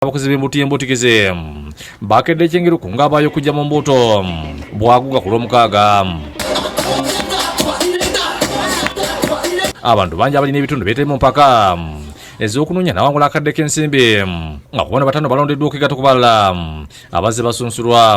abakozi b'embuto y'embutikizi bakedde ekyengeruku ng'abaayo okujja mu mbuuto bwaguga ku lw'omukaaga abantu bangi abalina ebitundu byetali mu mpaka ez'okunoonya nawangula akadde k'ensimbi nga kubona batano balondeddwa okwegatta ku balala abazze basunsulwa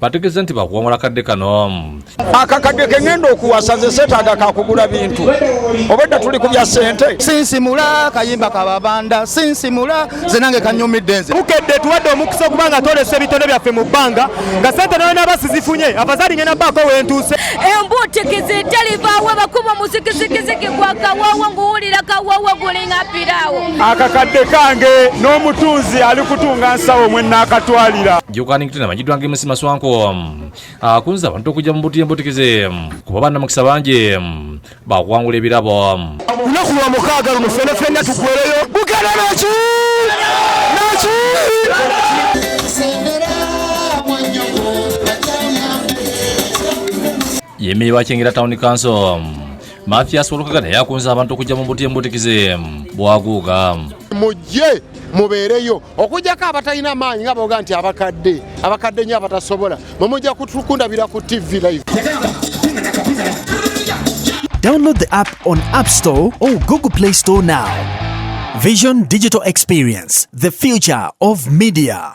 bategezza nti bakuwangula kadde kano akakadde kengenda okuwasa nze setaaga kakugula bintu obwedda tuli ku bya sente sinsimula kayimba kababanda sinsimula ze nange kanyumidde nze bukedde tuwadde omukisa okuba nga tolesa ebitone byaffe mu bbanga nga sente nalina basizifunye afazali ngenda baako wentuuse embuutikizi etalivaawo bakuba muzikizikiziki gwa kawawa nguwulira kawawa gulinga piraawo akakadde kange n'omutunzi ali kutunga nsawo mwenaakatwalira Idwange musima swanko ah, kunza abantu okujja mu buti embutikize kuba banna mukisa bangi bakuwangula ebirabo olunaku lwa mukaaga luno fena fena tukuwereyo bugenda naki naki yemeye wakyengera town council Mathias Walukaga naye akunze abantu okujja mu mbuti embutikize bwaguuga mujje mubeereyo okujjako abatalina maanyi nga boga nti abakadde abakadde nyo abatasobola mwemujja kundabira ku tv live Download the app on App Store or Google Play Store now. Vision Digital Experience, the future of media.